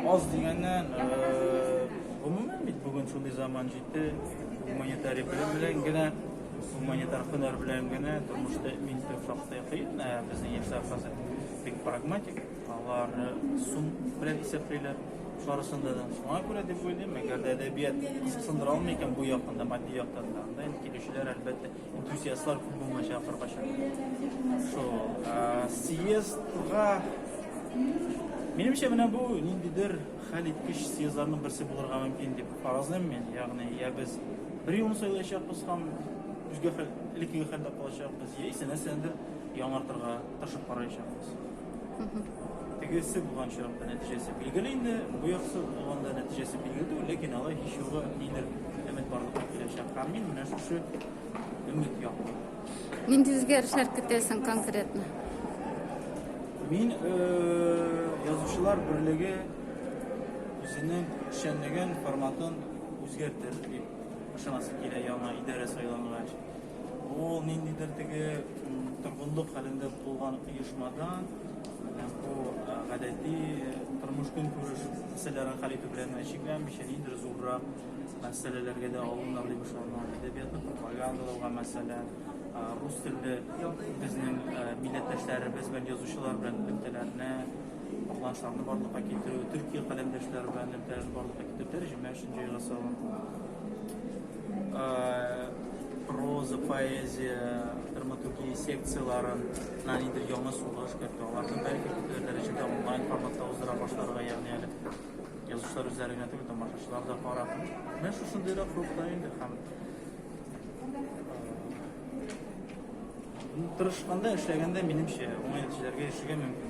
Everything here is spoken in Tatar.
Аз дигәннән, гомумән бит бүген шундый заман җитте, гуманитарий белем белән генә, гуманитар һөнәр белән генә тормышта мин төп шактый кыен, ә безнең яшьләр хәзер бик прагматик, алар сум белән исәплиләр барысында да шуңа күрә дип уйлыйм әгәр дә әдәбият сындыра алмый икән бу яктан да матди яктан да анда инде килүчеләр әлбәттә Энтузиастлар күп булмаячак кыркача. Шо, съездга Минемчә менә бу ниндидер хәл иткеч съездларның берсе булырга мөмкин дип фаразлыйм мин. Ягъни, я без бер юлны сайлаячакбыз һәм үзгә хәл, элеккеге хәлдә калачакбыз, яисә нәрсәнедер яңартырга тырышып караячакбыз. Тегесе булган очракта нәтиҗәсе билгеле инде, бу яксы булганда нәтиҗәсе билгеле түгел, ләкин алай һич югы нидер өмет барлыкка киләчәк. Һәм мин менә шушы өмет яклы. Нинди үзгәрешләр көтәсең конкретно? Мин язучылар берлеге үзенең эшчәнлеген, форматын үзгәртер дип ышанасы килә яңа идарә сайлангач. Ул ниндидер теге торгынлык хәлендә булган оешмадан гадәти тормыш көнкүреш мәсьәләләрен хәл итү белән чикләнмичә, ниндер зуррак мәсьәләләргә дә алыннар дип ышанам. Әдәбиятны пропагандалауга, мәсәлән, рус телле безнең милләттәшләребез белән язучылар белән элемтәләрне, катнашларны барлыкка китерү, төрки каләмдәшләр белән элемтәләрне барлыкка китерү, тәрҗемә өчен җайга салу. Проза, поэзия, драматургия секцияләрен Ниндидер яңа сугыш, бәлки аларны бәлки күпләр дәрәҗәдә онлайн форматта уздыра башларга, ягъни әле язучылар үзләре генә түгел, тамашачылар да карап. Менә шушындыйрак рухта инде һәм тырышканда, эшләгәндә, минемчә, уңай нәтиҗәләргә ирешергә мөмкин.